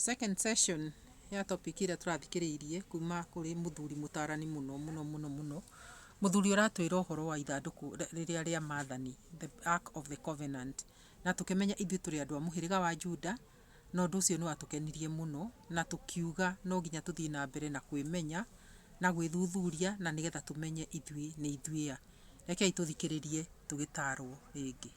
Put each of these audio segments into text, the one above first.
Second session ya topic ĩrĩa tũrathikĩrĩirie kuma kũrĩ mũthuri mũtarani mũno mũno mũno mũno, mũthuri ũratwĩra ũhoro wa ithandũkũ rĩrĩa rĩa maathani, the ark of the covenant, na tũkĩmenya ithuĩ tũrĩ andũ a mũhĩrĩga wa Juda, na ũndũ ũcio nĩ watũkenirie mũno, na tũkiuga no nginya tũthiĩ na mbere na kwĩmenya, na gwĩthuthuria na nĩgetha tũmenye ithuĩ nĩ ithuĩ a. Rekei tũthikĩrĩrie tũgĩtarwo rĩngĩ.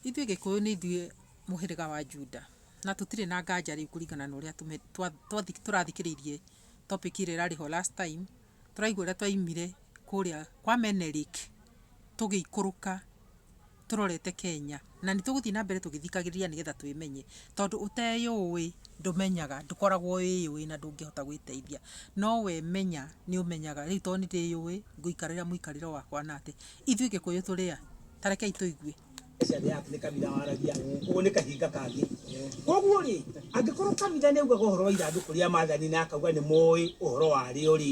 Ithuĩ Gĩkũyũ nĩ ithuĩ mũhĩrĩga wa Juda, na tũtirĩ na nganja rĩu kũringana na ũrĩa tũrathikĩrĩirie topic ĩrĩa ĩrarĩ ho last time, tũraigua ũrĩa twaimire kũrĩa kwa Menelik tũgĩikũrũka tũrorete Kenya. na nĩ tũgũthiĩ na mbere tũgĩthikagĩrĩria nĩgetha twĩmenye, tondũ ũteyũĩ ndũmenyaga, ndũkoragwo wĩyũĩ na ndũngĩhota gwĩteithia, no wemenya nĩ ũmenyaga, rĩu to nĩ ndĩyũĩ ngũikarĩra mũikarĩre wakwa na atĩ, ithuĩ Gĩkũyũ tũrĩ a? Ta rekei tũigue. Mbeca ĩrĩa yaku nĩ kabira waragia, ũguo nĩ kahinga kangĩ. Koguo rĩ, angĩkorwo kabira nĩ augaga ũhoro wa ithandũkũ rĩa maathani na akauga nĩ moĩ ũhoro warĩo rĩ,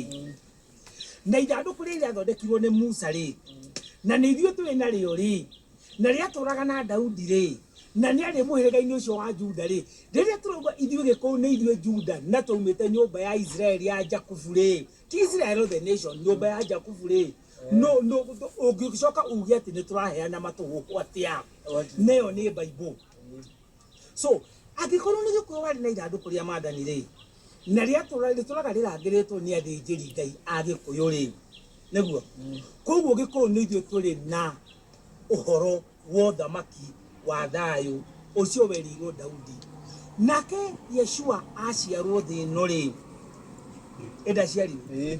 na ithandũkũ rĩrĩa rĩathondekirwo nĩ Musa rĩ, na nĩ ithuĩ tũrĩ narĩo rĩ, na rĩatũraga na Daudi rĩ, na nĩ arĩ mũhĩrĩga-inĩ ũcio wa Juda rĩ, rĩrĩa tũrauga ithuĩ gĩkũyũ nĩ ithuĩ Juda na twaumĩte nyũmba ya Israeli ya Jakubu rĩ, ti Israel othe nation, nyũmba ya Jakubu rĩ, no no ũngĩcoka uge atĩ nĩ tũraheana matũhũhũ atĩa? Nayo nĩ Bible. so angĩkorwo nĩ gĩkuũ warĩ na ithandũkũ rĩa maathani rĩ na rĩtũraga rĩrangĩrĩtwo nĩ athĩnjĩri ngai a gĩkũyũ rĩ nĩguo mm. koguo gĩkũyũ nĩ ithuĩ tũrĩ na ũhoro wa ũthamaki wa thayũ ũcio werirwo daudi nake yeshua aciarwo thĩ ĩno rĩ ĩndaciarirwo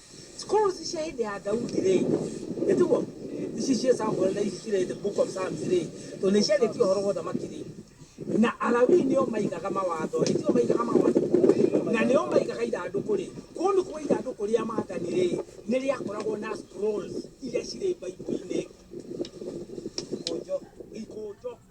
Scrolls cia hĩndĩ ya Daudi rĩ, ĩ tiguo? Ici ciĩ Samuel na ici cirĩ the book of Psalms rĩ, tondũ nĩ ciandĩkĩtio ũhoro wa ũthamaki rĩ, na Alawii nĩo maigaga mawatho rĩ, tio maigaga mawatho na nĩo maigaga ithandũkũ rĩ, kũu nĩ kuga ithandũkũ rĩa maathani rĩ, nĩ rĩakoragwo na scrolls iria cirĩ Bible-inĩ. Ikũnjo, ikũnjo.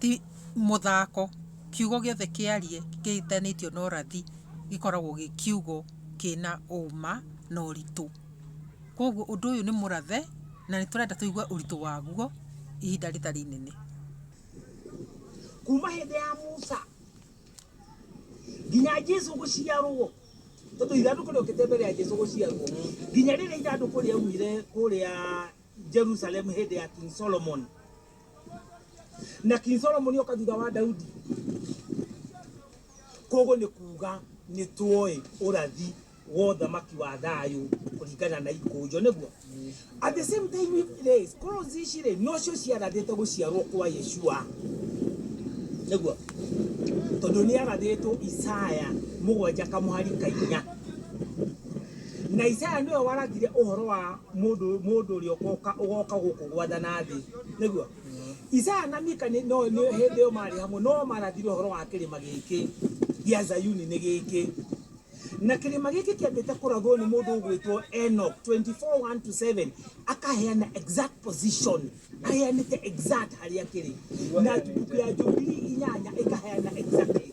ti mũthako, kiugo gĩothe kĩarie kĩhutanĩtio na ũrathi gĩkoragwo gĩ kiugo kĩna ũma na ũritũ. Koguo ũndũ ũyũ nĩ mũrathe na nĩ tũrenda tũigue ũritũ waguo ihinda rĩtarĩ inene. Kuma hĩndĩ ya Musa nginya Jesu gũciarwo, tondũ ithandũkũ rĩokĩte mbere ya Jesu gũciarwo, nginya rĩrĩa ithandũkũ rĩaumire kũrĩa Jerusalem hĩndĩ ya King Solomon. na king solomoni oka thutha wa daudi koguo nĩ kuuga nĩ tuoĩ ũrathi wa ũthamaki wa thayũ kũringana na ikũnjo nĩguo at the same time we place cross ici rĩ nocio ciarathĩte gũciarwo kwa yeshua nĩguo tondũ nĩ arathĩtwo isaya mũgwanja kamũhari kainya Na Isaya nĩwe warathire ũhoro wa mũndũ mũndũ ũrĩa ũkoka ũgoka gũkũ gwathana thĩ. Nĩguo. Isaya na Mika nĩ no nĩ hĩndĩ ĩyo maarĩ hamwe no marathire ũhoro wa kĩrĩma gĩkĩ gĩa Zayuni nĩ gĩkĩ. Na kĩrĩma gĩkĩ kĩambĩte kũrathwo nĩ mũndũ ũgwĩtwo Enoch 24:1 to 7 akaheana exact position aheanĩte exact harĩa kĩrĩ na mbuku ya Jubilee inyanya ĩkaheana exactly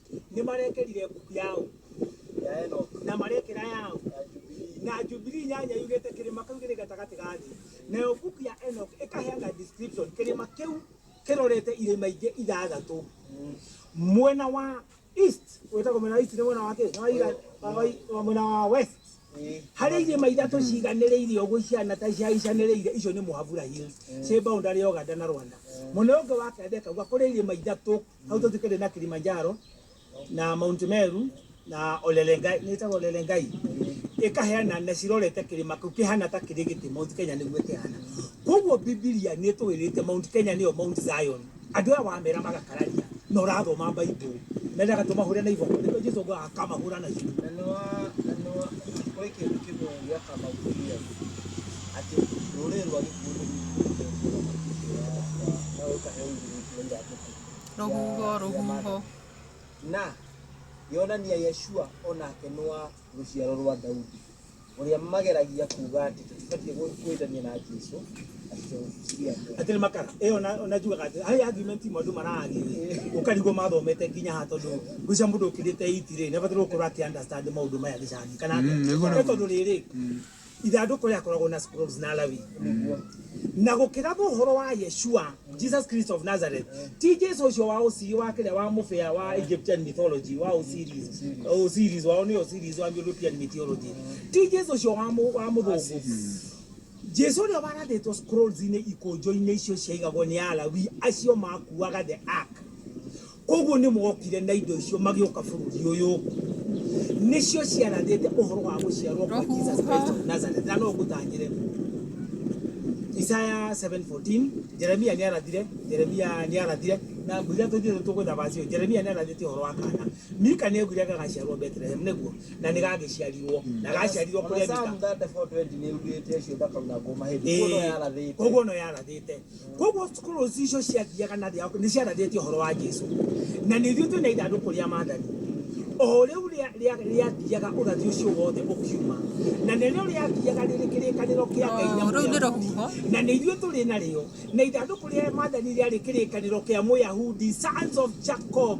nĩ marekerire mbuku ya ũ ya Enoch na marekera ya ũ ya Jubilee na Jubilee nyanya yugĩte kĩrĩma kĩu gĩrĩ gatagatĩ ga thĩ nayo mbuku ya Enoch ĩkaheana description kĩrĩma kĩu kĩrorete irĩma ingĩ ithathatũ mwena wa east wĩtagwo mwena wa east nĩ mwena wa kĩ Nĩ wa ira- wa- wa- wa- mwena wa west Ĩĩ. harĩa irĩma ithatũ ciganĩrĩirie ũguo ihiana ta ciaicanĩrĩire icio nĩ mũhabura hills ciĩ boundary ya Uganda na Rwanda mwena ũngĩ wa kenda ĩkauga kũrĩ irĩma ithatũ hau twathikĩte na kilimanjaro na mount meru na olelengai nĩtagwo olelengai ĩkaheana na cirorete kĩrĩma kĩu kĩhana ta kĩrĩ gĩtĩ mount kenya nĩguo kĩhana koguo bibilia nĩ ĩtũĩrĩte mount kenya nĩyo mount zion andũ aya wamera magakararia na ũrathoma baibũ mendaga tũmahũre na iboko nĩkĩo jesu ngo akamahũra na iboko na nĩwa na nĩwa kũrĩ kĩndũ kĩmwe gĩaka mauria atĩ rũrĩrĩ rwa gĩkuũ nĩ rũkuĩte na rũkahe ũgirĩki wa iratũ Rũhuho, rũhuho. Na yonania Yeshua o nake nĩ wa rũciaro rwa Daudi, ũrĩa mageragia kuuga atĩ tũtibatiĩ gwĩ- gwĩtania na Jesu atĩ tũciria mũndũ. atiri makara iyo najugaga ati hari argument imwe andu mararagirire ukarigwo mathomete nginya ha tondu gucia mundu ukirite iti ri ni abatirwo gukorwo aki understand maundu maya gicagi kana Mm, nĩguo, nĩguo. tondu riri ithandũkũ rĩrĩa akoragwo na scrolls na alawi na gũkĩra mohoro wa yeshua jesus christ of nazareth ti jesu ũcio wa ũcii wa kĩrĩa wa mũbĩa wa egyptian mythology wa osiris osiris wao nĩ osiris wa european mythology ti jesu ũcio wa mũ- wa mũthũngũ jesu ũrĩa warathĩtwo scrolls-inĩ ikũnjũ-inĩ icio ciaigagwo nĩ alawi acio makuaga the ark Koguo nĩmokire na indo icio magĩũka bũrũri ũyũ, nĩcio ciarathĩte ũhoro wa gũciarwo kwa Jesus Christ of Nazareth. Na no ngũtangĩre, Isaya 7:14, Jeremia nĩarathire, Jeremia nĩarathire, na ngwĩra tũthiĩ tũgwetha verse ĩyo, Jeremia nĩarathĩte ũhoro wa kana. Mika nĩaugire gagaciarwo Bethlehem, nĩguo, na nĩgagĩciarirwo, na gaciarirwo kũrĩa Mika. Koguo no yarathĩte. Kwoguo cukuru icio ciathiaga na thĩ nĩ ciarathĩtie ũhoro wa Jesu. Na nĩ ithuĩ twĩ na ithandũkũ rĩa maathani o rĩu rĩathiaga ũrathi ũcio wothe ũkiuma. Na nĩrĩo rĩathiaga rĩrĩ kĩrĩkanĩro kĩa Ngai na Mũyahudi. Na nĩ ithuĩ tũrĩ narĩo. Na ithandũkũ rĩa maathani rĩarĩ kĩrĩkanĩro kĩa Mũyahudi, Sons of Jacob.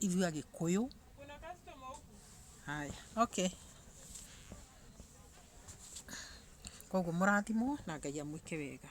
Ithuĩ agĩkũyũ. Haya, okay. Koguo mũrathimwo na Ngai amwĩke wega.